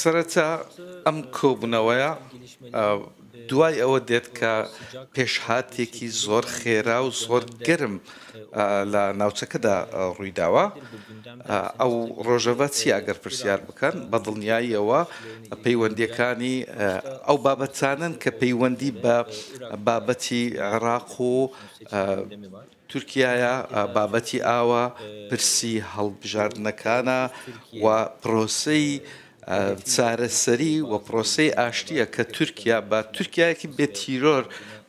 سەرەتا ئەم کۆبوونەوەیە دوای ئەوە دێت کە پێشهاتێکی زۆر خێرا و زۆر گەرم لە ناوچەکەدا ڕوویداوە ئەو ڕۆژەڤە چی ئەگەر پرسیار بکەن بە دڵنیاییەوە پەیوەندیەکانی ئەو بابەتانن کە پەیوەندی بە بابەتی عێراق و تورکیایە، بابەتی ئاوە، پرسی هەڵبژاردنەکانە و پرۆسەی چارەسەری و پرۆسەی ئاشتییە کە تورکیا بە تورکیایەکی بێ تیرۆر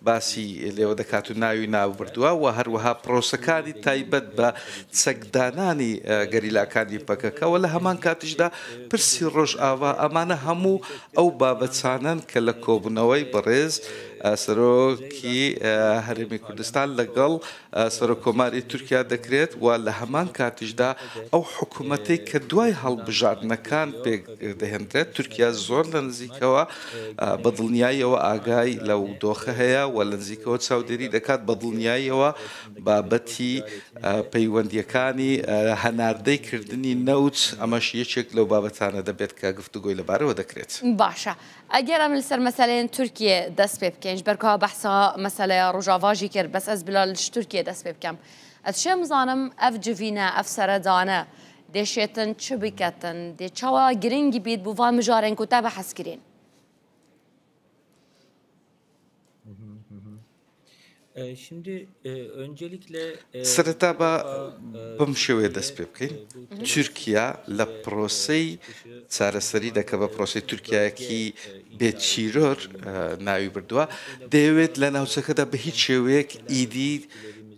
باسی لێوە دەکات و ناوی ناوبردووە و هەروەها پرۆسەکانی تایبەت بە چەکدانانی گەریلاکانی پەکەکە و لە هەمان کاتیشدا پرسی ڕۆژئاوا ئەمانە هەموو ئەو بابەتانەن کە لە کۆبوونەوەی بەڕێز سەرۆکی هەرێمی کوردستان لەگەڵ سەرۆک کۆماری تورکیا دەکرێت و لە هەمان کاتیشدا ئەو حکومەتەی کە دوای هەڵبژاردنەکان پێک دەهێندرێت تورکیا زۆر لە نزیکەوە بە دڵنیایەوە ئاگای لەو دۆخە هەیە و لە نزیکەوە چاودێری دەکات بە دڵنیایەوە بابەتی پەیوەندییەکانی هەناردەی کردنی نەوت، ئەمەش یەکێک لەو بابەتانە دەبێت کە گفتوگۆی لەبارەوە دەکرێت. باشە ئەگەر ئەمن لەسەر مەسەلەێن تورکیێ دەست پێ بکەین، ژبەر کوا بەحسا مەسەلەێ ڕوژاڤاژی کرد، بەس ئەز بلا لەش تورکیێ دەست پێ بکەم. ئەز شێم زانم ئەف جڤینە، ئەف سەرەدانە دێ شێتن چ بکەتن؟ دێ چاوا گرنگ بیت بوو ڤان مژارێن کوتا بەحس کرێن؟ سەرەتا با بەم شێوەیە دەست پێ بکەین تورکیا لە پرۆسەی چارەسەری دەکە بە پرۆسی تورکایەکی بێت چیرۆر ناوی بردووە دەیەوێت لە ناوچەکەدا بە هیچ شێوەیەک ئیدی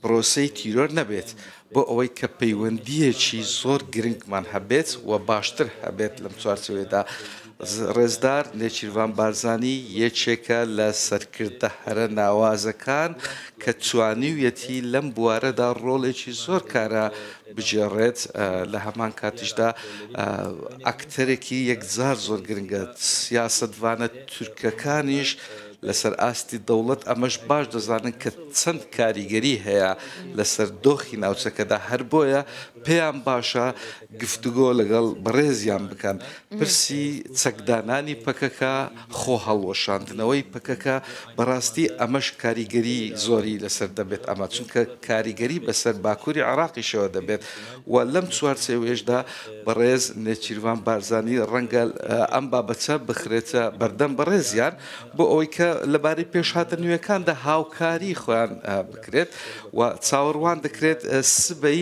پرۆسی تیرۆر نەبێت بۆ ئەوەی کە پەیوەندیەکی زۆر گرنگمان هەبێت و باشتر هەبێت لەم چوارچەوەیەدا ڕێزدار نێچیرڤان بارزانی یەکێکە لە سەرکردە هەرە ناوازەکان کە توانیویەتی لەم بوارەدا ڕۆڵێکی زۆر کارا بگێڕێت، لە هەمان کاتیشدا ئەکتەرێکی یەکجار زۆر گرنگە، سیاسەتڤانە تورکەکانیش لەسەر ئاستی دەوڵەت ئەمەش باش دەزانن کە چەند کاریگەری هەیە لەسەر دۆخی ناوچەکەدا، هەر بۆیە پێیان باشە گفتوگۆ لەگەڵ بەڕێزیان بکەن. پرسی چەکدانانی پەکەکە، خۆ هەڵوەشاندنەوەی پەکەکە، بەڕاستی ئەمەش کاریگەری زۆری لەسەر دەبێت ئەمە، چونکە کاریگەری بەسەر باکوری عێراقیشەوە دەبێت و لەم چوارچێوەیەشدا بەڕێز نێچیرڤان بارزانی ڕەنگە ئەم بابەچە بخرێتە بەردەم بەڕێزیان بۆ ئەوەی کە لەبارەی پێشهاتە نوێکاندا هاوکاری خۆیان بکرێت و چاوەڕوان دەکرێت سبەی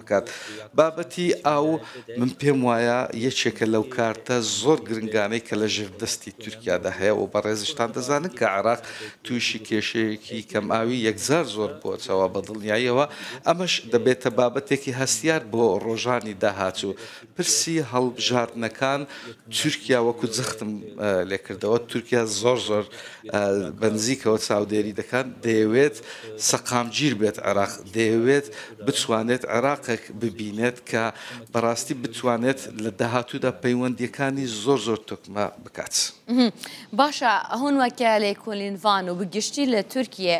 بکات بابەتی ئاو من پێم وایە یەکێکە لەو کارتە زۆر گرنگانەی کە لە ژێر دەستی تورکیادا هەیە و بەڕێزیشتان دەزانن کە عێراق تووشی کێشەیەکی کەم ئاوی یەکجار زۆر بۆچەوە بە دڵنیاییەوە ئەمەش دەبێتە بابەتێکی هەستیار بۆ ڕۆژانی داهاتوو پرسی هەڵبژاردنەکان تورکیا وەکو جەختم لێکردەوە تورکیا زۆر زۆر بەنزیکەوە چاودێری دەکات دەیەوێت سەقامگیر بێت عێراق دەیەوێت بتوانێت عێراقێک ببینێت کە بەڕاستی بتوانێت لە داهاتوودا پەیوەندیەکانی زۆر زۆر تۆکمە بکات باشە هەون وەکە لێکۆلینڤان و بگشتی لە تورکیە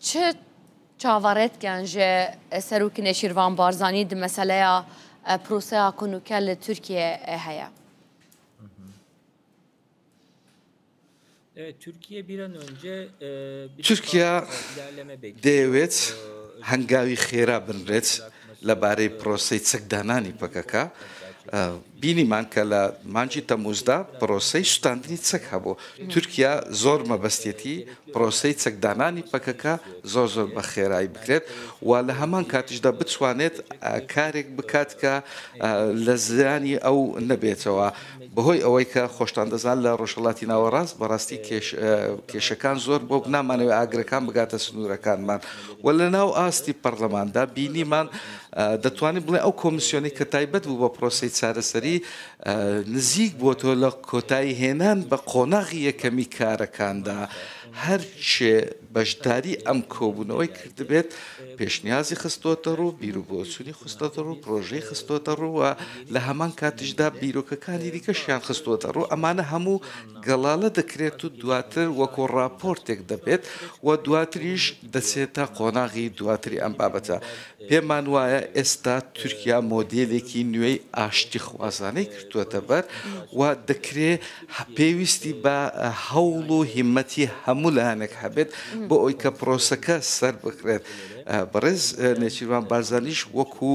چ چاڤەڕێت کەن ژێ سەروک نێچیرڤان بارزانی دی مەسەلەیا پروسەیا کونوکە لە تورکیە هەیە؟ تورکیا دەیەوێت هەنگاوی خێرا بنرێت لەبارەی پرۆسەی چەکدانانی پەکەکە، بینیمان کە لە مانگی تەمووزدا پرۆسەی سوتاندنی چەک هەبوو. تورکیا زۆر مەبەستیەتی پرۆسەی چەکدانانی پەکەکە زۆر زۆر بە خێرایی بکرێت و لە هەمان کاتیشدا بتوانێت کارێک بکات کە لە زیانی ئەو نەبێتەوە. بەهۆی ئەوەی کە خۆشتان دەزان لە ڕۆژهەڵاتی ناوەڕاست بەڕاستی کێشەکان زۆر بۆک نامانەوێ ئاگرەکان بگاتە سنوورەکانمان و لە ناو ئاستی پەرلەماندا بینیمان دەتوانین بڵێ ئەو کۆمسیۆنی کە تایبەت بوو بە پرۆسی چارەسەری نزیک بۆ تۆ لە کۆتایی هێنان بە قۆناغی یەکەمی کارەکاندا هەرچێ بەشداری ئەم کۆبوونەوەی کردبێت، پێشنیازی خستۆتەڕوو، بیروبۆچوونی خستۆتەڕوو، پرۆژەی خستۆتەڕوو و لە هەمان کاتیشدا بیرۆکەکانی دیکەشیان خستۆتەڕوو، ئەمانە هەموو گەڵالە دەکرێت و دواتر وەکو ڕاپۆرتێک دەبێت و دواتریش دەچێتە قۆناغی دواتری ئەم بابەتە. پێمان وایە ئێستا تورکیا مۆدێلێکی نوێی ئاشتیخوازانەی گرتووەتەبەر و دەکرێ پێویستی بە هەوڵ و هیمەتی هەموو لایەنێک هەبێت بۆ ئەوەی کە پرۆسەکە سەربکرێت. بەڕێز نێچیرڤان بارزانیش وەکو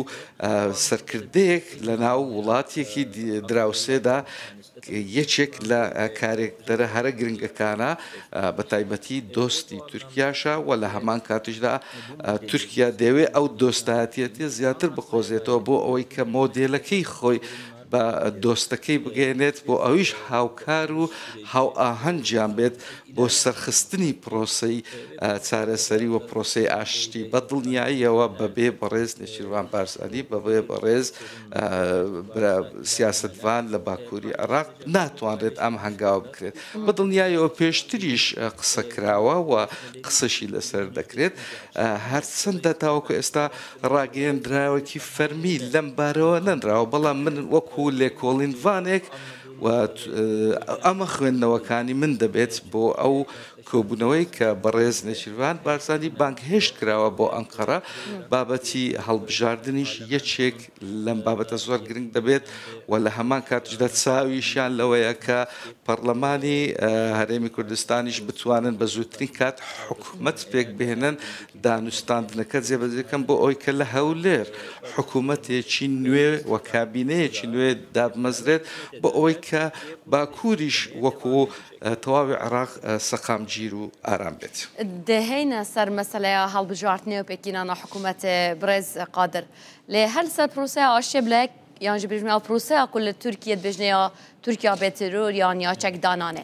سەرکردەیەک لە ناو وڵاتێکی دراوسێدا یەکێک لە کارێکتەرە هەرە گرنگەکانە بە تایبەتی دۆستی تورکیاشە و لە هەمان کاتیشدا تورکیا دەیەوێت ئەو دۆستایەتیەتی زیاتر بقۆزێتەوە بۆ ئەوەی کە مۆدێلەکەی خۆی بە دۆستەکەی بگەیەنێت بۆ ئەویش هاوکار و هاوئاهەنگیان بێت بۆ سەرخستنی پرۆسەی چارەسەری و پرۆسەی ئاشتی بە دڵنیاییەوە بەبێ بەڕێز نێچیروان بارزانی بەبێ بەڕێز سیاستڤان لە باکووری عێراق ناتوانرێت ئەم هەنگاوە بکرێت بە دڵنیایەوە پێشتریش قسە کراوە و قسەشی لەسەر دەکرێت هەرچەندە تاوەکو ئێستا ڕاگەیەندراوێکی فەرمی لەم بارەوە نەنراوە، بەڵام من وەکو لێکۆڵینڤانێک و ئەمە خوێندنەوەکانی من دەبێت بۆ ئەو کۆبوونەوەی کە بەڕێز نێچیرڤان بارزانی بانگهێشت کراوە بۆ ئەنقەرە، بابەتی هەڵبژاردنیش یەکێک لەم بابەتە زۆر گرنگ دەبێت و لە هەمان کاتیشدا چاویشیان لەوەیە کە پەڕڵەمانی هەرێمی کوردستانیش بتوانن بە زووترین کات حکومەت پێکبهێنن دانوستاندنەکە جێبەجێ بکەن بۆ ئەوەی کە لە هەولێر حکوومەتێکی نوێ و کابینەیەکی نوێ دابمەزرێت بۆ ئەوەی کە باکووریش وەکو تەواوی عێراق سەقامگیر و ئارام بێت. دهینە سەر مەسەلەیا هەڵبژارتنێ و پێکینانا حکوومەتێ، بڕێز قادر لێ هەر لە سەر پرۆسەیا ئاشتیێ بلەک یان ژبریژمێا پرۆسەیا کو لە تورکیە دبێژنێا تورکیا بێ ترور یان یا چەکدانانێ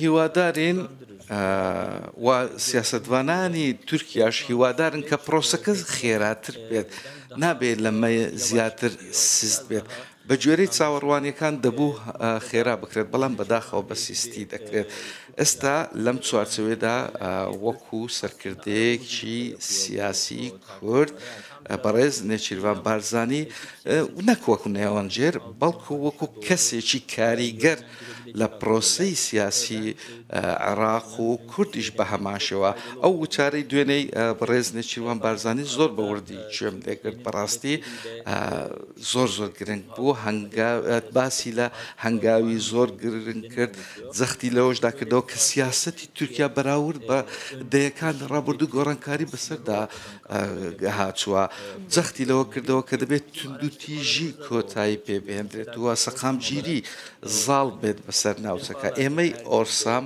هیوادارین و سیاسەتڤانانی تورکیاش هیوادارن کە پرۆسەکە خێراتر بێت نابێت لەمە زیاتر سست بێت بە گوێرەی چاوەڕوانیەکان دەبوو خێرا بکرێت بەڵام بەداخەوە بە سیستی دەکرێت ئێستا لەم چوارچەوێدا وەکو سەرکردەیەکی سیاسی کورد بەڕێز نێچیرڤان بارزانی نەک وەک نێوەندگێر، بەڵکو وەکو کەسێکی کاریگەر لە پرۆسەی سیاسیی عێراق و کوردیش بە هەمانشێوە، ئەو وتارەی دوێنێی بەڕێز نێچیرڤان بارزانی زۆر بە وردی گوێم لێ گرت، بەڕاستی زۆر زۆر گرنگ بوو، هەنگاو، باسی لە هەنگاوی زۆر گرنگ کرد، جەختی لەوەشدا کردەوە کە سیاسەتی تورکیا بەراورد بە دەیەکانی ڕابردوو گۆڕانکاری بەسەردا گهاچووه، جەختی لەوە کردەوە کە دەبێت توندوتیژی کۆتایی پێ بهێندرێت و سەقامگیری زاڵ بێت بەسەر ناوچەکە، ئێمەی ئۆرسام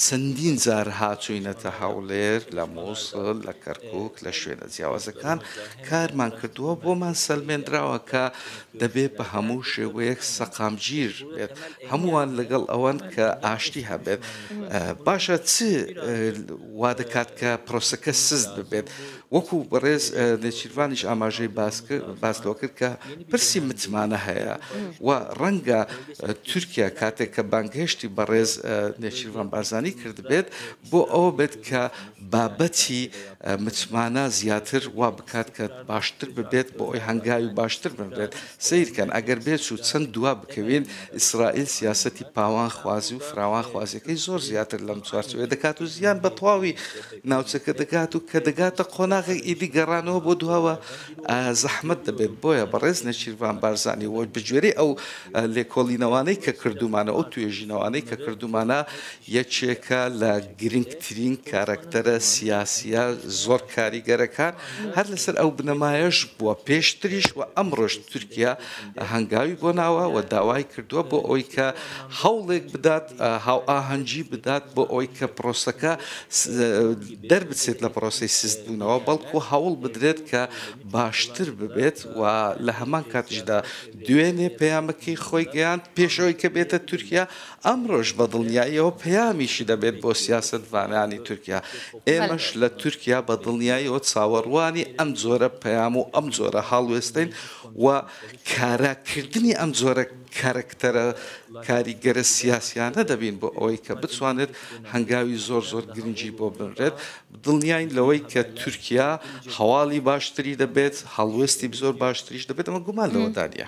چەندین جار هاتووینەتە هەوڵێر، لە مووسڵ، لە کەرکووک، لە شوێنە جیاوازەکان کارمان کردووە، بۆمان سەلمێنراوە کە دەبێت بە هەموو شێوەیەک سەقامگیر بێت، هەمووان لەگەڵ ئەوەن کە ئاشتی هەبێت، باشە چ وادەکات کە پرۆسەکە سست ببێت؟ وەکو بەڕێز نێچیرڤانیش ئاماژەی باس لەوە کرد کە پرسی متمانە هەیە و ڕەنگە تورکیا کاتێک کە بانگهێشتی بەڕێز نێچیرڤان بارزانی کردبێت، بۆ ئەوە بێت کە بابەتی متمانە زیاتر وا بکات کە باشتر ببێت بۆ ئەوی هەنگاوی باشتر بنرێت. سەیر کەن ئەگەر بێچوو چەند دوا بکەوین، ئیسرائیل سیاسەتی پاوانخوازی و فراوانخوازیەکەی زۆر زیاتر لەم چوارچێوەیە دەکات و زیان بە تەواوی ناوچەکە دەگات و کە دەگاتە قۆناغێک ئیدی گەڕانەوە بۆ دواوە زەحمەت دەبێت. بۆیە بەڕێز نێچیرڤان بارزانی و بەگوێرەی ئەو لێکۆڵینەوانەی کە کردوومانە و ئەو توێژینەوانەی کە کردوومانە یەکێکە لە گرنگترین کارەکتەرە سیاسییە زۆر کاریگەرەکان، هەر لەسەر ئەو بنەمایەش بووە پێشتریش و ئەمڕۆش تورکیا هەنگاوی بۆ ناوە و داوای کردووە بۆ ئەوەی کە هەوڵێک بدات هاوئاهەنگی بدات بۆ ئەوەی کە پرۆسەکە دەربچێت لە پرۆسەی سستبوونەوە بەڵکو هەوڵ بدرێت کە باشتر ببێت و لە هەمان کاتیشدا دوێنێ پەیامەکەی خۆی گەیاند پێش ئەوەی کە بێتە تورکیا ئەمڕۆش بە دڵنیایەوە پەیامیشی دەبێت بۆ سیاسەتڤانانی تورکیا، ئێمەش لە تورکیا بە دڵنیایەوە چاوەڕوانی ئەم جۆرە پەیام و ئەم جۆرە هەڵوێستەین و کارا کردنی ئەم جۆرە کارەکتەرە کاریگەرە سیاسیانە دەبین بۆ ئەوەی کە بتوانێت هەنگاوی زۆر زۆر گرنگی بۆ بنرێت، دڵنیاین لەوەی کە تورکیا هەواڵی باشتری دەبێت، هەڵوێستی زۆر باشتریش دەبێت، ئەمە گومان لەوەدا نییە.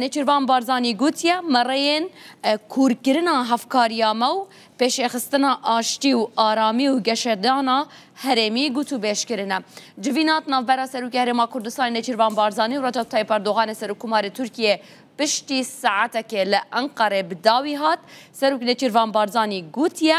نێچیرڤان بارزانی گوتیە، مەڕێێن کورکرنا هەڤکاریامە و پێشێخستنا ئاشتی و ئارامی و گەشەدانا هەرێمی گوتوبێژ کرنە. جڤینات ناڤبەرا سەروکی هەرێما کوردستانی نێچیرڤان بارزانی و رەجەب تەیب ئەردۆغانی سەروک کوماری تورکیێ پشتی ساعەتەکێ لە ئەنقەرەێ بداوی هات، سەروک نێچیرڤان بارزانی گوتیە،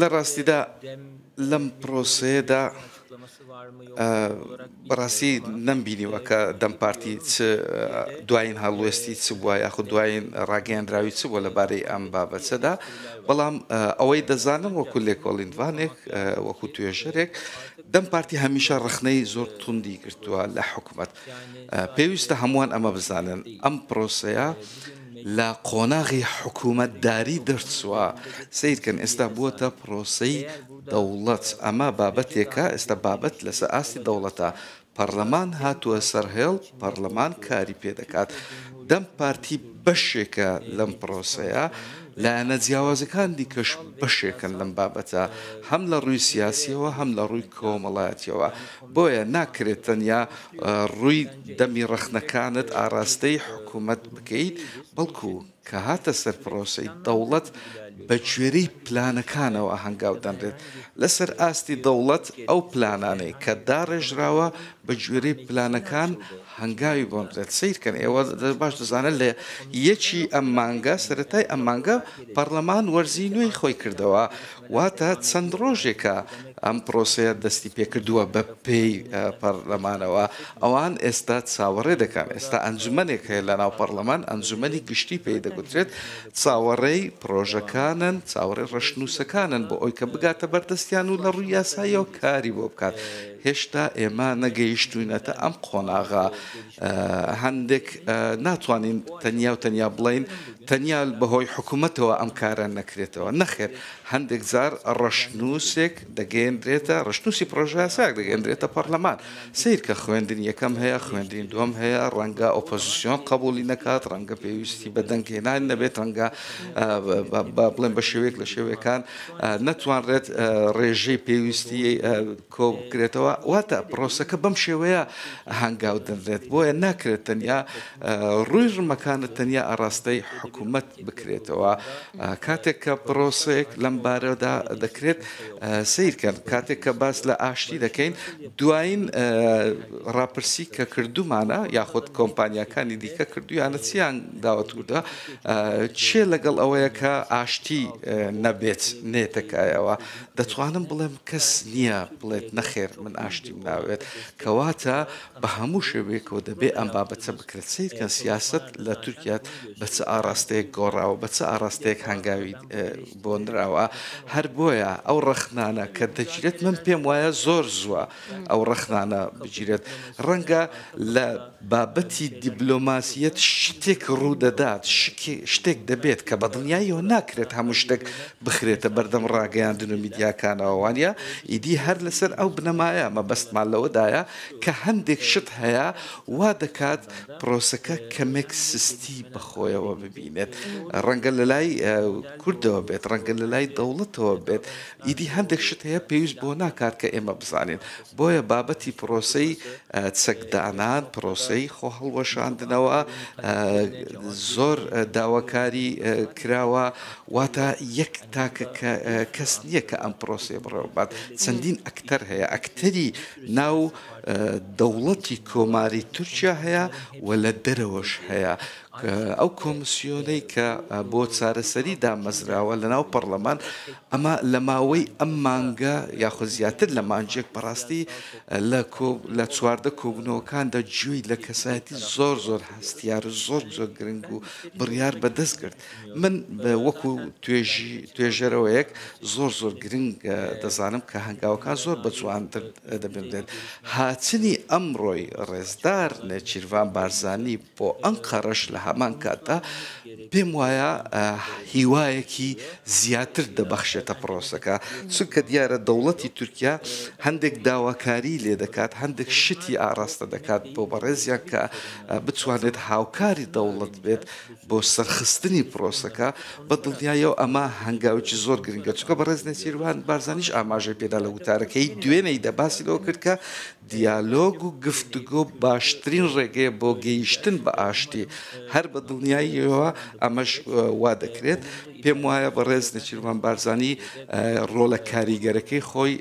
لە ڕاستیدا لەم پرۆسەیەدا بەڕاستی نەمبینیوە کە دەم پارتی چ دوایین هەڵوێستی چ بووە یاخود دوایین ڕاگەیاندراوی چ بووە لەبارەی ئەم بابەتەدا بەڵام ئەوەی دەزانم وەکو لێکۆڵینوانێک وەکو توێژەرێک دەم پارتی هەمیشە ڕخنەی زۆر توندی گرتووە لە حکومەت پێویستە هەمووان ئەمە بزانن، ئەم پرۆسەیە لە قۆناغی حکوومەتداری دەرچووە، سەیرکەن ئێستا بووەتە پرۆسەی دەوڵەت، ئەمە بابەتێکە، ئێستا بابەت لەسەر ئاستی دەوڵەتە، پەڕلەمان هاتووە سەر هێڵ، پەڕلەمان کاری پێ دەکات، دەم پارتی بەشێکە لەم پرۆسەیە، لایەنە جیاوازەکان دیکەش بەشێکن لەم بابەتە، هەم لە ڕووی سیاسییەوە، هەم لە ڕووی کۆمەڵایەتییەوە. بۆیە ناکرێت تەنیا ڕووی دەمی ڕەخنەکانت ئاراستەی حکومەت بکەیت، بەڵکو کە هاتە سەر پرۆسەی دەوڵەت بەگوێرەی پلانەکانەوە هەنگاو دەنرێت. لەسەر ئاستی دەوڵەت ئەو پلانانەی کە داڕێژراوە بەگوێرەی پلانەکان هەنگاوی بۆ نرێت. سەیرکەن ئێوە باش دەزانن لە یەکی ئەم مانگە، سەرەتای ئەم مانگە پەڕلەمان وەرزی نوێی خۆی کردەوە واتە چەند ڕۆژێکە ئەم پرۆسەیە دەستی پێکردووە بە پێی پەرلەمانەوە، ئەوان ئێستا چاوەڕێ دەکەن، ئێستا ئەنجومەنێک هەیە لە ناو پەرلەمان، ئەنجومەنی گشتی پێی دەگوترێت، چاوەڕێی پرۆژەکانن، چاوەڕێی ڕەشنووسەکانن بۆ ئەوەی کە بگاتە بەردەستیان و لە ڕووی یاساییەوە کاری بۆ بکات، هێشتا ئێمە نەگەیشتووینەتە ئەم قۆناغە. هەندێک ناتوانین تەنیا و تەنیا بڵێین تەنیا بەهۆی حکوومەتەوە ئەم کارە نەکرێتەوە نەخێر هەندێک زار ڕەشنووسێک دەگەێنرێتە ڕشتنووسی پرۆژاساک دەگەێنرێتە پەرلەمان سیرکە خوێندن یەکەم هەیە خوێندین دوم هەیە ڕەنگە ئۆپۆزیسیۆن قبولی نەکات ڕەنگە پێویستی بە دەنگهێنان نەبێت ڕەنگە بڵێن بە شێوەیەک لە شێوەکان نەتوانرێت ڕێژەی پێویستی کۆبکرێتەوە، واتە پرۆسەکە بەم شێوەیە هەنگاو دەنرێت، بۆیە ناکرێت تەنیا ڕووی ڕمەکانە تەنیا ئاڕاستەی حکومەت بکرێتەوە، کاتێک کە پرۆسەیەک لەم بارەدا دەکرێت، سەیرکەن کاتێک کە باس لە ئاشتی دەکەین دوایین ڕاپرسی کە کردومانە یاخود کۆمپانیاکانی دیکە کردویانە چیان داوەت وتە چیە لەگەڵ ئەوەیە کە ئاشتی نەبێت نێتەکایەوە، دەتوانم بڵێم کەس نییە بڵێت نەخێر من ئاشتیم ناوێت، کەواتە بە هەموو شێوەیەکەوە دەبێ ئەم بابەتە بکرێت. سەیر کەن سیاسەت لە تورکیا بە چ ئاڕاستەیەک گۆڕاوە، بە چ ئاڕاستەیەک هەنگاوی بۆ نراوە، هەر بۆیە ئەو ڕەخنانە کە دەگیرێت من پێم وایە زۆر زووە، ئەو ڕەخنانە بگیرێت ڕەنگە لە بابەتی دیبلۆماسیەت شتێک ڕوودەدات شتێک دەبێت کە بەدڵنیایەوە ناکرێت هەموو شتێک بخرێتە بەردەم ڕاگەیاندن و میدیاکانەوەوانە ئیدی هەر لەسەر ئەو بنەمایە مەبەستمان لەوەدایە کە هەندێک شت هەیە وا دەکات پرۆسەکە کەمێک سستی بەخۆیەوە ببینێت ڕەنگە لە لای کوردەوە بێت ڕەنگە لە لای دەوڵەتەوە بێت ئیدی هەندێک شت هەیە پێویست بۆ ناکات کە ئێمە بزانین، بۆیە بابەتی پرۆسەی چەکدانان، پرۆسەی خۆهەڵوەشاندنەوە زۆر داواکاری کراوە، واتە یەک تاکە کەس نییە کە ئەم پرۆسەیە بڕێوە ببات، چەندین ئەکتەر هەیە، ئەکتەری ناو دەوڵەتی کۆماری تورکیا هەیە و لە دەرەوەش هەیە. ئەو کۆمسیۆنەی کە بۆ چارەسەری دامەزراوە لە ناو پەڕلەمان ئەمە لە ماوەی ئەم مانگە یاخود زیاتر لە مانجێک بەڕاستی لە چواردە کۆبنەوەکاندا جوێی لە کەسایەتی زۆر زۆر هەستیار زۆر زۆر گرنگ و بڕیار بەدەست کرد من وەکو توێژی توێژەرەوەیەک زۆر زۆر گرنگ دەزانم کە هەنگاوەکان زۆر بە جوانتر دەبێت هاچنی ئەمڕۆی ڕێزدار نێچیرڤان بارزانانی بۆ ئەنقەرەش لە هەمان کاتدا پێم وایە هیوایەکی زیاتر دەبەخشێتە پڕۆسەکە، چونکە دیارە دەوڵەتی تورکیا هەندێک داواکاریی لێ دەکات، هەندێک شتی ئاراستە دەکات بۆ بەڕێزیان کە بتوانێت هاوکاری دەوڵەت بێت بۆ سەرخستنی پڕۆسەکە، بە دڵنیاییەوە ئەمە هەنگاوێکی زۆر گرنگە، چونکە بەڕێز نێچیرڤان بارزانیش ئاماژەی پێدا لە وتارەکەی، دوێنێیدا باسی لەوە کرد کە دیالۆگ و گفتوگۆ باشترین ڕێگەیە بۆ گەیشتن بە ئاشتی، هەر بە دڵنیاییەوە ئەمەش وا دەکرێت. پێم وایە بەڕێز نێچیرڤان بارزانی ڕۆڵە کاریگەرەکەی خۆی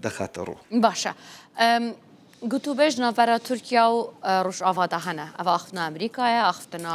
دەخاتە ڕوو. باشە گوتوبێژ ناوبرا تورکیا و ڕوژئاڤادا هەنە، ئەڤە ئاخفتنە ئەمریکایە، ئاخفتنە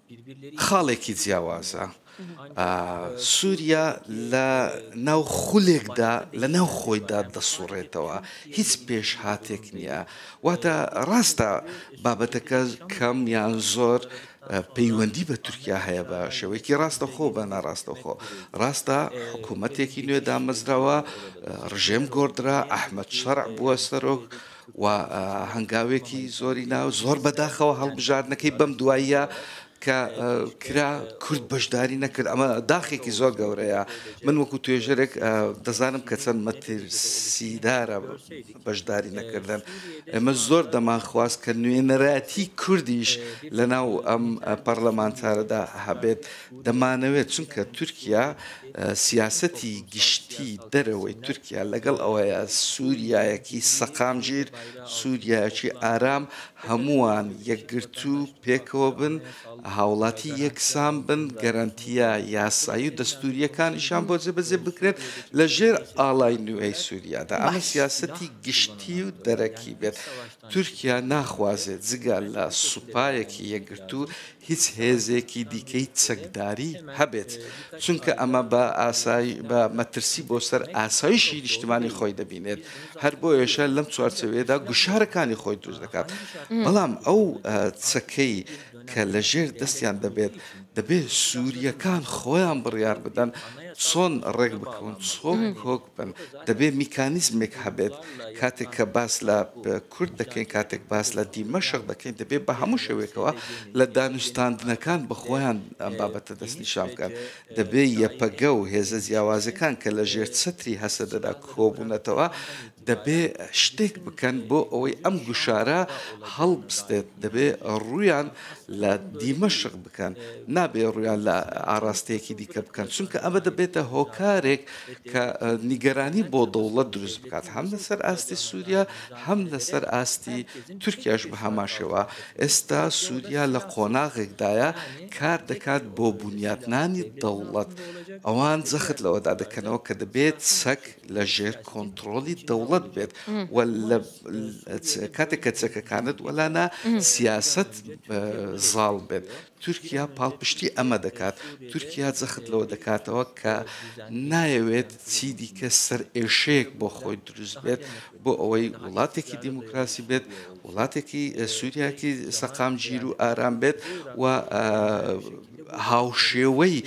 خاڵێکی جیاوازە. سووریا لە ناو خولێکدا لە ناو خۆیدا دەسوڕێتەوە، هیچ پێشهاتێک نییە. واتە ڕاستە بابەتەکە کەم یان زۆر پەیوەندی بە تورکیا هەیە بە شێوەیەکی ڕاستەخۆ بە ناڕاستەخۆ. ڕاستە حکوومەتێکی نوێ دامەزراوە، ڕژێم گۆڕدرا، ئەحمەد شەرع بووە سەرۆک، و هەنگاوێکی زۆری ناو زۆر بەداخەوە هەڵبژاردنەکەی بەم دواییە کە کرا کورد بەشداری نەکرد ئەمە داخێکی زۆر گەورەیە من وەکو توێژەرێک دەزانم کە چەند مەترسیدارە بەشداری نەکردن ئەمە زۆر دەمانخواست کە نوێنەراتی کوردیش لە ناو ئەم پەرلەمانتارەدا هەبێت دەمانەوێت چونکە تورکیا سیاسەتی گشتی دەرەوەی تورکیا لەگەڵ ئەوەیە سوریایەکی سەقامگیر، سوریایەکی ئارام، هەمووان یەکگرتوو پێکەوە بن، هاوڵاتی یەکسان بن، گەرەنتییە یاسایی و دەستورییەکانیشیان بۆ جێبەجێ بکرێت لە ژێر ئاڵای نوێی سوریادا. ئەمە سیاسەتی گشتی و دەرەکی بێت. تورکیا ناخوازێت جگە لە سوپایەکی یەکگرتوو، هیچ هێزێکی دیکەی چەکداری هەبێت، چونکە ئەمە بە ئاسای بە مەترسی بۆ سەر ئاسایشی نیشتمانی خۆی دەبینێت، هەر بۆیەشە لەم چوارچێوەیەدا گوشارەکانی خۆی دروست دەکات، بەڵام ئەو چەکەی کە لە ژێر دەستیان دەبێت، دەبێت سورییەکان خۆیان بڕیار بدەن چۆن ڕێک بکەون، چۆن کۆک دەبێت میکانیزمێک هەبێت کاتێک کە باس لە کورد دەکەین کاتێک باس لە دیمەشق دەکەین دەبێت بە هەموو شێوێکەوە لە دانوستاندنەکان بە خۆیان ئەم بابەتە دەستنیشان بکەن دەبێت یەپەگە و هێزە جیاوازەکان کە لە ژێر چەتری هەسەدەدا کۆبوونەتەوە دەبێ شتێک بکەن بۆ ئەوەی ئەم گوشارە هەڵبستێت دەبێ ڕویان لە دیمەشق بکەن نابێ ڕویان لە ئاراستەیەکی دیکە بکەن چونکە ئەمە دەبێتە هۆکارێک کە نیگەرانی بۆ دەوڵەت دروست بکات هەم لەسەر ئاستی سووریا هەم لەسەر ئاستی تورکیاش بە هەماشەوە ئێستا سووریا لە قۆناغێکدایە کار دەکات بۆ بنیاتنانی دەوڵەت ئەوان زەخت لەوەدا دەکەنەوە کە دەبێت چەک لە ژێر کۆنتترۆلی دەوڵەت بێت کاتێک کە چەکەکانت وەلانا سیاست زاڵ بێت تورکیا پاڵپشتی ئەمە دەکات، تورکیا جەخت لەوە دەکاتەوە کە نایەوێت چی دیکە سەرئێشەیەک بۆ خۆی دروست بێت بۆ ئەوەی وڵاتێکی دیموکراسی بێت، وڵاتێکی سووریایەکی سەقامگیر و ئارام بێت و هاوشێوەی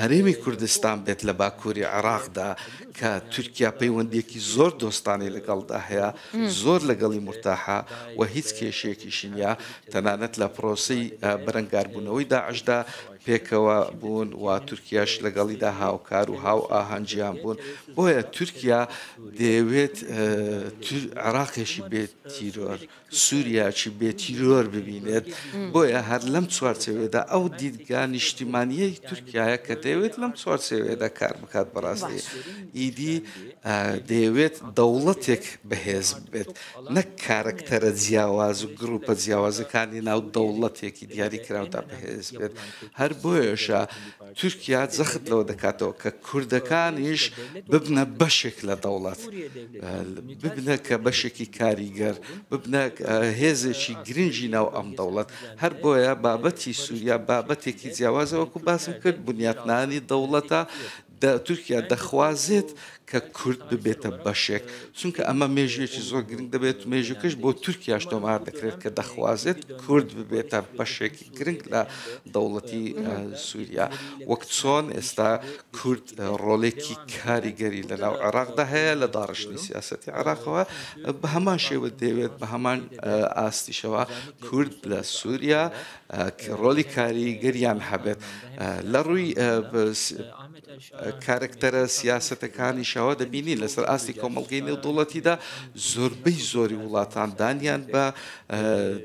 هەرێمی کوردستان بێت لە باکووری عێراقدا کە تورکیا پەیوەندیەکی زۆر دۆستانی لەگەڵدا هەیە زۆر لەگەڵی مرتاحە و هیچ کێشێکیشی نیە تەنانەت لە پرۆسەی بەرەنگاربوونەوەی داعشدا پێکەوە بوون و تورکیاش لەگەڵیدا هاوکار و هاو ئاهەنگیان بوون بۆیە تورکیا دەیەوێت عراقێکی بێت تیرۆر سووریاچی بێ تیرۆر ببینێت بۆیە هەر لەم چوارچەوێدا ئەو دیدگا نیشتیمانیەی تورکایە کە دەیەوێت لەم چوارچەوێدا کار بکات بەڕاستی ئیدی دەیەوێت دەوڵەتێک بەهێز بێت نەک کارەکتەرە جیاواز و گروپە جیاوازەکانی ناو دەوڵەتێکی دیاریکراودا بەهێز بێت، هەر بۆیەشە تورکیا جەخت لەوە دەکاتەوە کە کوردەکانیش ببنە بەشێک لە دەوڵەت، ببنە کە بەشێکی کاریگەر، ببنە هێزێکی گرنگی ناو ئەم دەوڵەت، هەر بۆیە بابەتی سوریا بابەتێکی جیاوازە، وەکو باسم کرد بنیاتنانی دەوڵەتە، تورکیا دەخوازێت کە کورد ببێتە بەشێک، چونکە ئەمە مێژوویەکی زۆر گرنگ دەبێت، مێژووکەش بۆ تورکیاش تۆمار دەکرێت کە دەخوازێت کورد ببێتە بەشێکی گرنگ لە دەوڵەتی سووریا، وەک چۆن ئێستا کورد ڕۆلێکی کاریگەری لەناو عێراقدا هەیە لە داڕشتنی سیاسەتی عێراقەوە، بە هەمان شێوە دەیەوێت بە هەمان ئاستیشەوە کورد لە سووریا ڕۆلی کاریگەریان هەبێت لە ڕووی کارکتەرە سیاسەتەکانیشەوە دەبینی لەسەر ئاستی کۆمەڵگەی نێودوڵەتیدا زۆربەی زۆری وڵاتان دانیان بە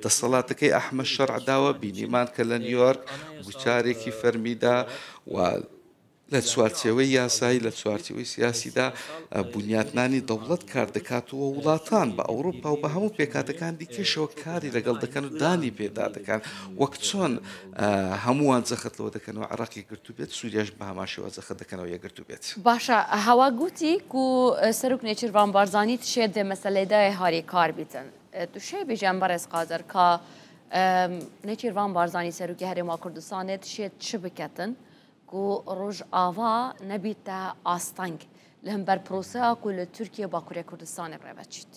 دەسەڵاتەکەی ئەحمە شەرعداوە بینیمان کە لە نیویۆرک گوتارێکی فەرمیدا و لە چوارچێوەی یاسایی، لە چوارچێوەی سیاسیدا بونیاتنانی دەوڵەت کار دەکات و وڵاتان بە ئەوروپا و بە هەموو پێکهاتەکان دیکەشەوە کاری لەگەڵ دەکەن و دانی پێدا دەکەن وەک چۆن هەمووان جەخت لەوە دەکەن و عراقی گرتو بێت سووریاش بە هەماشەوە جەخت دەکەنەوە یەگرتو بێت باشە هەوا گوتی کو سەرک نێچیر ڤان بارزانی تشێ دێ مەسەلەیدای هاری کار بیتن تو شەی بیژەن بەڕێز قادر کا نێچیر ڤان بارزانی سەرکی هەرێما کوردستانێت شێت چ بکەتن کو ڕۆژئاڤا نەبیتە ئاستەنگ لە هەمبەر پرۆسەیا کو لە تورکیە و باکورێ کوردستانێ ڕێڤەچیت.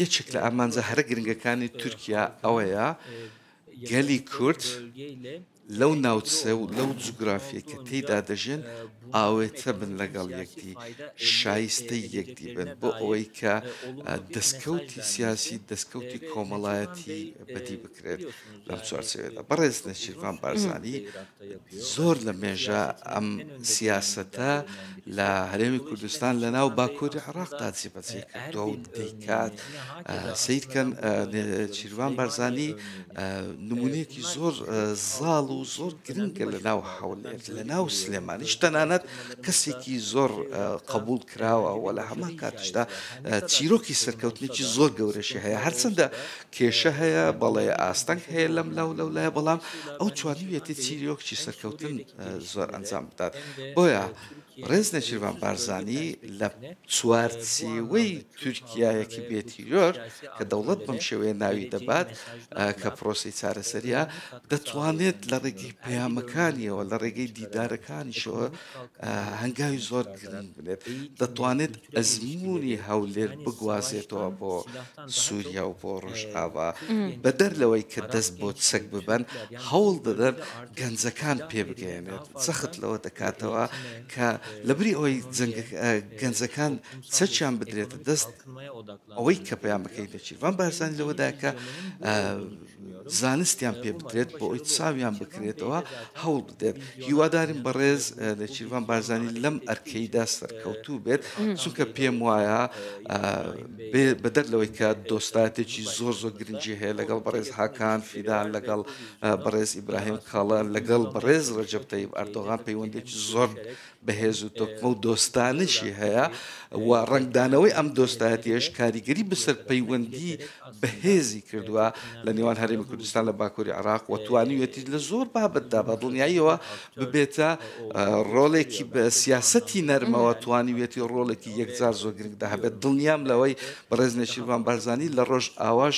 یەکێک لە ئامانجە هەرە گرنگەکانی تورکیا ئەوەیە گەلی کورد لەو ناوچە و لەو جوگرافیەی کە تێیدا دەژێن ئاوێتە بن لەگەڵ یەکدی، شایستەی یەکدی بن بۆ ئەوەی کە دەستکەوتی سیاسی، دەستکەوتی کۆمەڵایەتی بەدی بکرێت. لەم چوارچێوەیەدا بەڕێز نێچیرڤان بارزانی زۆر لە مێژە ئەم سیاسەتە لە هەرێمی کوردستان لەناو باکوری عێڕاقدا جێبەجێی کردوە و دەیکات. کات سەیر کەن چیروان بارزانی نمونەیەکی زۆر زاڵ و زۆر گرنگە لە ناو حولێر لە ناو سلێمانیش تەنانەت کەسێکی زۆر قبول کراوە و لە هەمان کاتشدا چیرۆکی سەرکەوتنێکی زۆر گەورەشی هەیە هەرچەندە کێشە هەیە بەڵێ ئاستەنگ هەیە لەم لاو لەو لایە بەڵام ئەو چوانویەتی چیرۆکچی سەرکەوتن زۆر ئەنجام بدات بۆیە ڕێز نێچیرڤان بارزانی لە چوارچێوەی تورکیایەکی بێ تیرۆر کە دەوڵەت بەم شێوەیە ناوی دەبات کە پرۆسی چارەسەریە دەتوانێت لە ڕێگەی پەیامەکانیەوە لە ڕێگەی دیدارەکانیشەوە هەنگاوی زۆر گرنگ بێت دەتوانێت ئەزمموی هەولێر بگوازێتەوە بۆ سوریا و بۆ ڕۆژئاوا، بەدەر لەوەی کە دەست بۆ چەک ببەن، هەوڵ دەدەن گەنجەکان پێبگەیەنێت، جەخت لەوە دەکاتەوە کە لەبری ئەوەی گەنجەکان چەکیان بدرێتە دەست، ئەوەی کە پەیامەکەی نێچیرڤان بارزانی لەوەدایە کە، زانستیان پێ بدرێت بۆ ئەوی چاویان بکرێتەوە هەوڵ بدێت هیوادارین بەڕێز نێچیروان بارزانانی لەم ئەرکەیدا سەرکەوتوو بێت چونکە پێم وایە بەدەر لەوەی کە دۆستاتێکی زۆر زۆر گرنگی هەیە لەگەڵ بەڕێز هاکان فیدان لەگەڵ بەڕێز ئیبراهیم کاڵە لەگەڵ بەڕێز ڕەجب تەیب ئەردۆغان پەیوەندێکی زۆر بەهێز و تۆکمە و دۆستانەشی هەیە و ڕەنگدانەوەی ئەم دۆستایەتیەش کاریگەری بەسەر پەیوەندی بەهێزی کردووە لە نێوان هەرێمی کوردستان لە باکووری عراق و توانیوێتی لە زۆر بابەتدا بە دڵنیاییەوە ببێتە ڕۆلێکی بە سیاسەتی نەرمەوە توانیوێتی ڕۆلێکی یەکجار زۆر گرنگدا هەبێت دڵنیام لەوەی بەڕێز نێچیرڤان بارزانی لە ڕۆژ ئاواش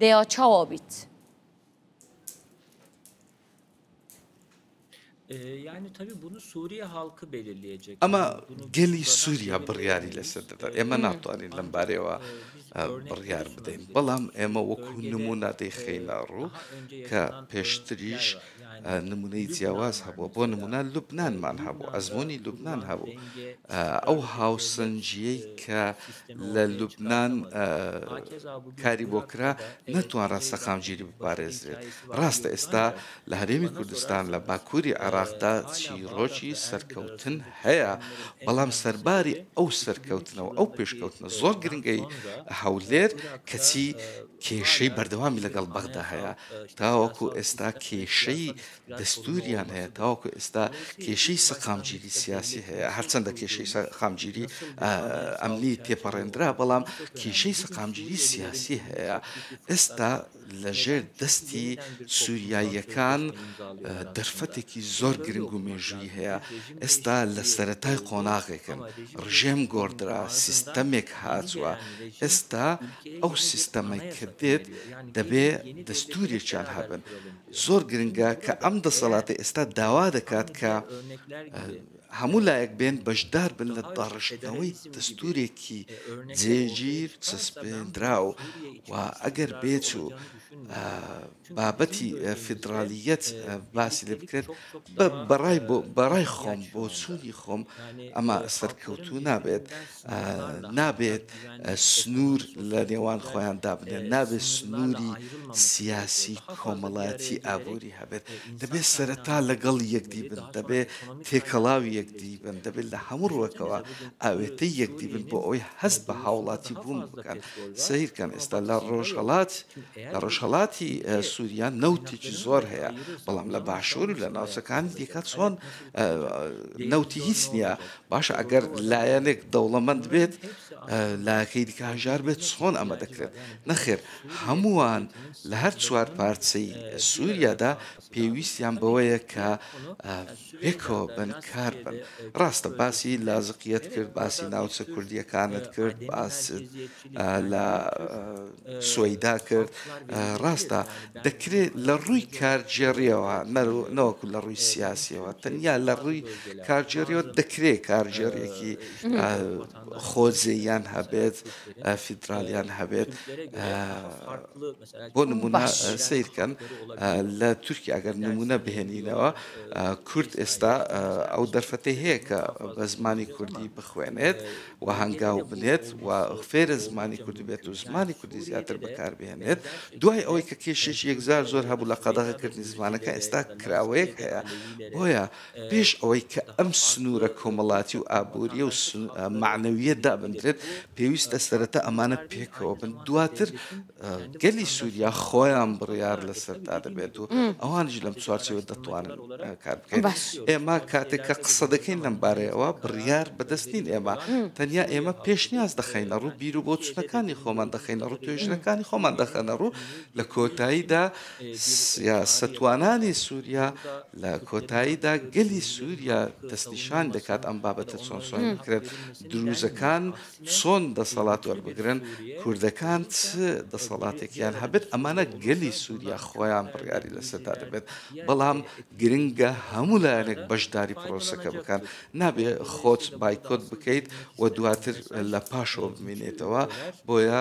دەیا چاوا بیت. ئەمە گەلی سووریا بڕیاری لەسەر دەدا ئێمە ناتوانین لەم بارەوە بڕیار بدەین بەڵام ئێمە وەکو نمونە دەیخینە ڕوو کە پێشتریش نمونەی جیاواز هەبووە بۆ نمونە لوبنانمان هەبوو ئەزمونی لوبنان هەبوو ئەو هاوسەنجیەی کە لە لوبنان کاری بۆ کرا نەتوانرا سەقامگیری بپارێزرێت ڕاستە ئێستا لە هەرێمی کوردستان لە باکووری عێراقدا چیرۆکی سەرکەوتن هەیە بەڵام سەرباری ئەو سەرکەوتنەوە ئەو پێشکەوتنە زۆر گرنگەی هەولێر کەچی کێشەی بەردەوامی لەگەڵ بەغدا هەیە، تاوەکو ئێستا کێشەی دەستووریان هەیە، تاوەکو ئێستا کێشەی سەقامگیری سیاسی هەیە، هەرچەندە کێشەی سەقامگیری ئەمنی تێپەڕێندرا، بەڵام کێشەی سەقامگیری سیاسی هەیە، ئێستا لەژێر دەستی سووریاییەکان دەرفەتێکی زۆر گرنگ و مێژوویی هەیە. ئێستا لە سەرەتای قۆناغێکن، ڕژێم گۆڕدرا، سیستەمێک هات و ئێستا ئەو سیستەمەی کە دێت دەبێ دەستوورێکیان هەبن. زۆر گرنگە کە ئەم دەسەڵاتە ئێستا داوا دەکات کە هەموو لایەک بێن بەشدار بن لە داڕشتنەوەی دەستوورێکی جێگیر چەسپێنراو و ئەگەر بێچوو بابەتی فیدرالییەت باسی لێ بکرێت، بەڕای خۆم بۆچوونی خۆم ئەمە سەرکەوتوو نابێت، نابێت سنوور لە نێوان خۆیان دابنێن، نابێت سنووری سیاسی، کۆمەڵایەتی، ئابووری هەبێت، دەبێت سەرەتا لەگەڵ یەکدی بن، دەبێت تێکەڵاوی یەکدی بن، دەبێت لە هەموو ڕووەکەوە ئاوێتەی یەکدی بن بۆ ئەوەی هەست بە هاوڵاتی بوون بکەن. سەیرکەن ئێستا لە ڕۆژهەڵات. لە ڕۆژهەڵاتی سوریا نەوتێکی زۆر هەیە بەڵام لە باشوور و لە ناوچەکانی دیکە چۆن نەوتی هیچ نییە باشە ئەگەر لایەنێک دەوڵەمەند بێت لاکەی دیکە هەژار بێت چۆن ئەمە دەکرێت نەخێر هەمووان لە هەر چوار پارچەی سووریادا پێویستیان بەوەیە کە پێکەوە بن کار بن ڕاستە باسی لازقیت کرد باسی ناوچە کوردیەکانت کرد باس لە سویدا کرد ڕاستە دەکرێت لە ڕووی کارگێڕیەوە نەوەکو لە ڕووی سیاسیەوە تەنیا لە ڕووی کارگێریەوە دەکرێت کارگێڕێکی خۆزێیان هەبێت فیدراالیان هەبێت بۆ نمونە سەیر کەن لە تورکیا گەر نمونە بهێنینەوە کورد ئێستا ئەو دەرفەتی هەیە کە بە زمانی کوردی بخوێنێت و هەنگاو بنێت و فێرە زمانی کوردی بێت و زمانی کوردی زیاتر بەکاربهێنێت دوای ئەوەی کە کێشێک یەکزار زۆر هەبوو لە قەدەغەکردنی زمانەکە ئێستا کراوەیەک هەیە بۆیە پێش ئەوەی کە ئەم سنوورە کۆمەڵاتی و ئابووری و معنەویە دابنرێت پێویستە سەرەتا ئەمانە پێکەوە بن دواتر گەلی سووریا خۆیان بڕیار لەسەردا دەبێت و ئەوانش لەم چوارچەوە دەتوانن کار بکەین ئێمە کاتێک کە قسە دەکەین لەم بارەیەوە بڕیار بەدەستین ئێمە تەنیا ئێمە پێشنیاز دەخینە ڕوو بیر و بۆچونەکانی خۆمان دەخینە ڕوو توێژنەکانی خۆمان دەخەنە ڕوو لە کۆتاییدا سیاستوانانی سووریا لە کۆتاییدا گەلی سووریا دەستنیشان دەکات ئەم بابەتە چۆن سۆن بکرێت دروزەکان چۆن دەسەڵات وەربگرن کوردەکان چ دەسەڵاتێکیان هەبێت ئەمانە گەلی سووریا خۆیان بڕیاری لەسەردا دەبێت بەڵام گرنگە هەموو لایەنێک بەشداری پرۆسەکە بکەن نابێ خۆت بایکۆت بکەیت و دواتر لە پاشەوە بمێنێتەوە بۆیە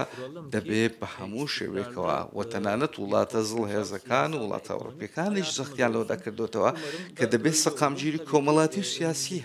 دەبێت بە هەموو شێوێکەوە و تەنانەت وڵاتە زڵ هێزەکان و وڵاتە ئەوروپیەکانیش زەختیان لەوە دەکردوێتەوە کە دەبێت سەقامگیری کۆمەڵاتی و سیاسی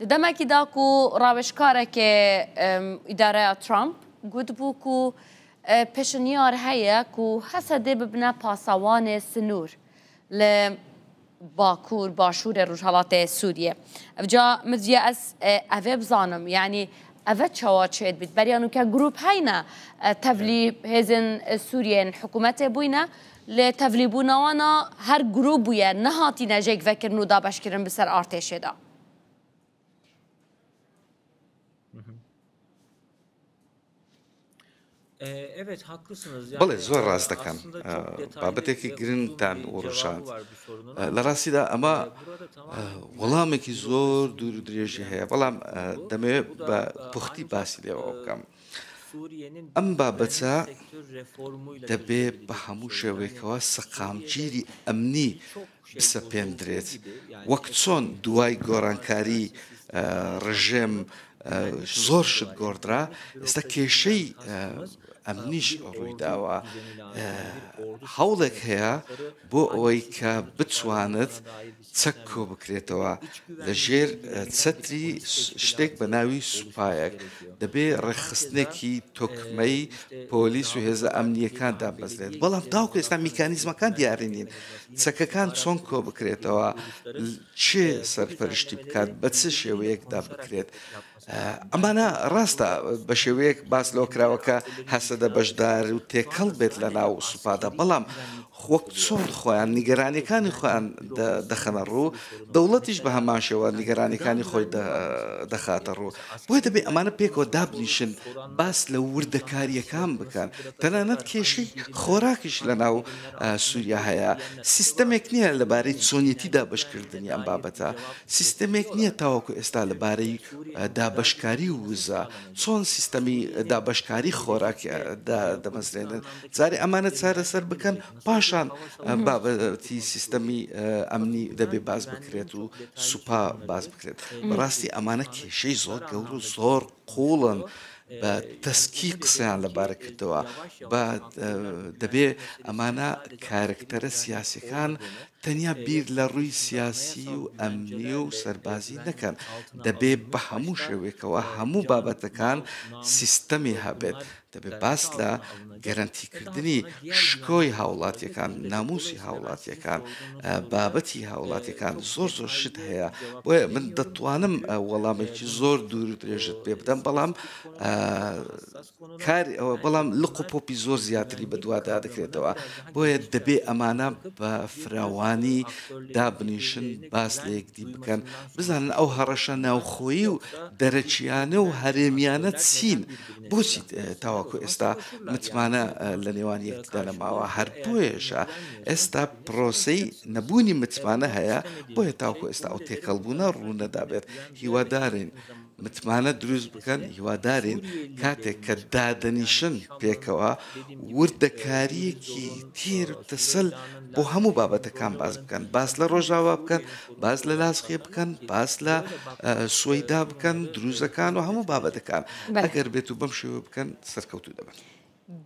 دە دەمەکی دا کو ڕاوێژکارەێ ئیدارەە ترامپ گوت بوو کو پێشنیار هەیە کو هەسە دێ ببنە پاسەوانێ سنوور لە باکوور باشوورە ڕژهڵاتێ سووریە ئەجا مزیە ئەس ئەێ بزانم یعنی ئەە چاوا چێت بیت بەریانوکە گروپ هەینە تەلی هێزن سووریێن حکوومەتێ بووینە لە تەڤلیبوونەوەنا هەر گرووپ بویە نەهاتینە ژێگڤەکردن و دابەشکردن بسەر ئارتێشێدا. بڵێ زۆر ڕاست دەکەم بابەتێکی گرنگتان وڕژان لە ڕاستیدا ئەمە وەڵامێکی زۆر دوور و درێژی هەیە بەڵام دەمەوێت بە پوختی باسی لێەوە بکەم ئەم بابەتە دەبێ بە هەموو شێوەیەکەوە سەقامگیری ئەمنی بسەپێندرێت وەک چۆن دوای گۆرانکاری ڕژێم زۆر شت گۆڕدرا ئێستا کێشەی ئەمنیش ڕوویداوە هەوڵێک هەیە بۆ ئەوەی کە بتوانێت چەک کۆبکرێتەوە لە ژێر چەتری شتێک بە ناوی سوپایەک دەبێ ڕێکخستنێکی تۆکمەی پۆلیس و هێزە ئەمنیەکان دابەزێت بەڵام تاوکە ئێستا میکانیزمەکان دیاری نین چەکەکان چۆن کۆ بکرێتەوە چێ سەرپەرشتی بکات بە چ شێوەیەکدا بکرێت ئەمانە ڕاستە بە شێوەیەک باس لەوە کراوە کە هەسەدە بەشدار و تێکەڵ بێت لە ناو سوپادا بەڵام وەک چۆن خۆیان نیگەرانیەکانی خۆیان دەخەنە ڕوو دەوڵەتیش بە هەمان شێوە نیگەرانیەکانی خۆی دەخاتە ڕوو بۆی دەبێت ئەمانە پێکەوە دابنیشن باس لە وردەکاریەکان بکەن تەنانەت کێشی خۆراکیش لە ناو سووریا هەیە سیستەمێک نییە لەبارەی چۆنیەتی دابشکردنی ئەم بابەتە سیستەمێک نییە تاوەکو ئێستا لەبارەی دابەشکاری ووزە، چۆن سیستەمی دابەشکاری خۆراک دادەمەزرێنن، جارێ ئەمانە چارەسەر بکەن پاشان بابەتی سیستەمی ئەمنی دەبێ باس بکرێت و سوپا باس بکرێت، بەڕاستی ئەمانە کێشەی زۆر گەورو زۆر قووڵن بە تەسکی قسەیان لەبارە کردەوە بە دەبێ ئەمانە کارکتەرە سیاسەکان تەنیا بیر لە ڕووی سیاسی و ئەمنی و سەربازی نەکەن دەبێ بە هەموو شێوێکەوە هەموو بابەتەکان سیستەمی هەبێت دەبێت باس لە گەرەنتیکردنی شکۆی هاوڵاتیەکان، ناموسی هاوڵاتیەکان، بابەتی هاوڵاتیەکان زۆر زۆر شت هەیە، بۆیە من دەتوانم وەڵامێکی زۆر دوور و درێژت پێ بدەم بەڵام کاری ئەوە بەڵام لق و پۆپی زۆر زیاتری بەدووادا دەکرێتەوە بۆیە دەبێ ئەمانە بە فراوانی دابنیشن باس لە یەکدی بکەن بزانن ئەو هەڕەشە ناوخۆیی و دەرەکییانە و هەرێمیانە چین بۆچی تاوەکو ئێستا متمانە لە نێوان یەکدا نەماوە؟ هەر بۆیەشە ئێستا پرۆسەی نەبوونی متمانە هەیە، بۆیە تاوەکو ئێستا ئەو تێکەڵبوونە ڕوو نەدابێت. هیوادارین متمانە دروست بکەن، هیوادارین کاتێک کە دادەنیشن پێکەوە، وردەکارییەکی تێر و تەسەل بۆ هەموو بابەتەکان باس بکەن، باس لە ڕۆژاوا بکەن، باس لە لاسخێ بکەن باس لە سوەیدا بکەن دروزەکان و هەموو بابەتەکان ئەگەر بێت و بەم شێوە بکەن سەرکەوتو دەبن.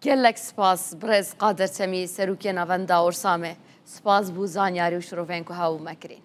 گەلەک سپاس بڕێز قادر چەمی سەروکیە ناڤەندا ئۆرسامێ سپاس بوو زانیاری و شرۆڤەیەنکو هاوو مەکرین.